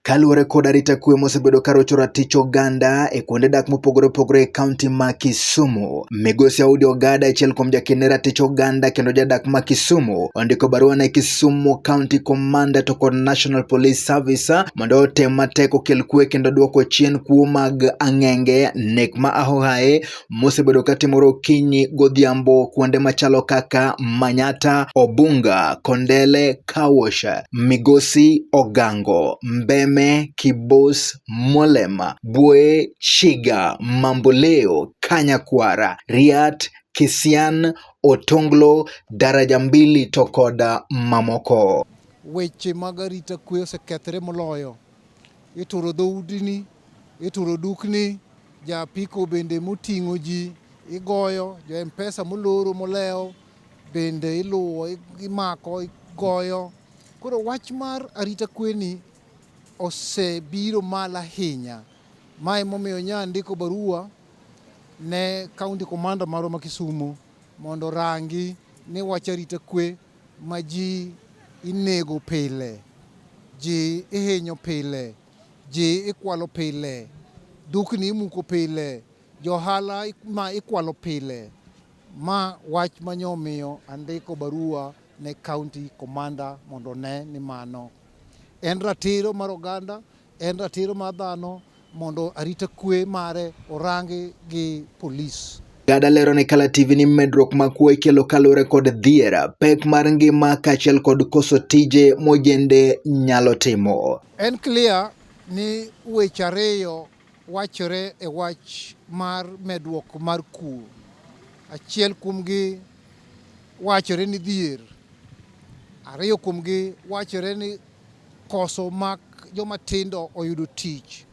Kaluwore kod arita kwe mosebedo ka rocho ratich oganda e kuonde dak mopogore opogore e kaunti ma Kisumu, migosi Audi Ogada achiel kuom jakene ratich oganda kendo jadak ma Kisumu ondiko barua ne Kisumu County Commander to kod National Police Service mondo otem matek okel kwe kendo duoko chien kuo mag ang'enge, nek ma ahohaye mosebedo ka timore okinyi godhiambo kuonde machalo kaka Manyata, Obunga, Kondele, Kawosh, Migosi, Ogango, Mbeme, Kibos, Molema, Bwoye, Shiga, Mamboleo, Kanyakwara, Riat, Kisian, Otonglo, Daraja Mbili to kod mamoko. Weche mag arita kwe osekethre moloyo. Ituro dhoudi ni Ituro dukni, ja apiko bende moting'o ji igoyo, jo mpesa moloro molewo bende iluwo, imako, igoyo. Koro wach mar arita kweni osebiro malo ahinya. Mae momiyo nya ndiko barua ne kaunti komanda marwa ma Kisumu mondo orangi ni wach arita kwe ma ji inego pile, ji ihinyo pile Ji ikwalo pile, dukni imuko pile, johala ma ikwalo pile. Ma wach ma nyo miyo andiko barua ne county commander mondo ne ni mano en ratiro mar oganda, en ratiro mar dhano mondo arita kwe mare orangi gi police. Gada lero ne Kala TV ni medruok ma kuo ikelo kaluwore kod dhier, pek mar ngima kaachiel kod koso tije mojende nyalo timo. En clear ni weche ariyo wachore e wach mar medruok mar kuo. Achiel kuomgi wachore ni dhier, ariyo kuomgi wachore ni koso mak joma tindo oyudo tich.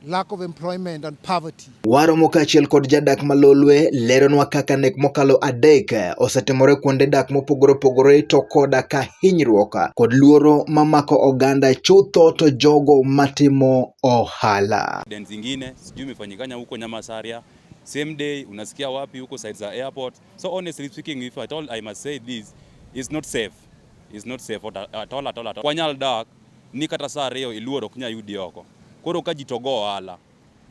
lack of employment and poverty. Waromo kaachiel kod jadak ma Lolwe leronwa kaka nek mokalo adek eh, osetimore kuonde dak mopogore opogore to koda ka hinyruok eh, kod luoro mamako oganda chutho to jogo matimo ohala. Zingine sijui imefanyikanya huko Nyamasaria same day unasikia wapi huko side za airport. So honestly speaking if at all I must say this is not safe. Is not safe at all at all at all. Kwa Nyaldak ni kata saa ariyo iluor ok nya yudi oko. Koro ka ji to go ohala,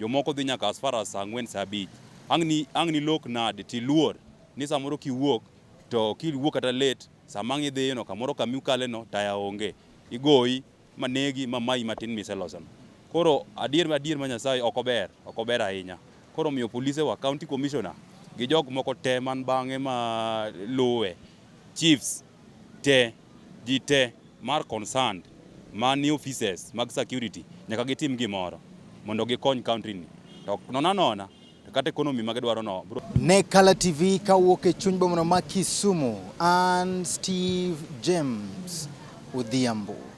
jomoko dhi nyaka as far as saa ang'wen saa abich. Ang' ni ang' ni lok nade tiluor ni samoro kiwuok to kiwuok kata late sama ang' idhiyo no kamoro kami ukale no taya onge. Igoyi ma negi ma mayi matin miseloso no. Koro adier ma adier ma Nyasaye ok ober, ok ober ahinya. Koro miyo polise wa, county commissioner gi jok moko te man bang'e ma luwe, chiefs te ji te mar concerned ma ni offices mag security nyaka gitim gimoro mondo gikony country ni to nona nona kata economy ma gidwaro no. Ne Kala TV kawuok e chuny bomano ma Kisumu, an Steve James Odhiambo.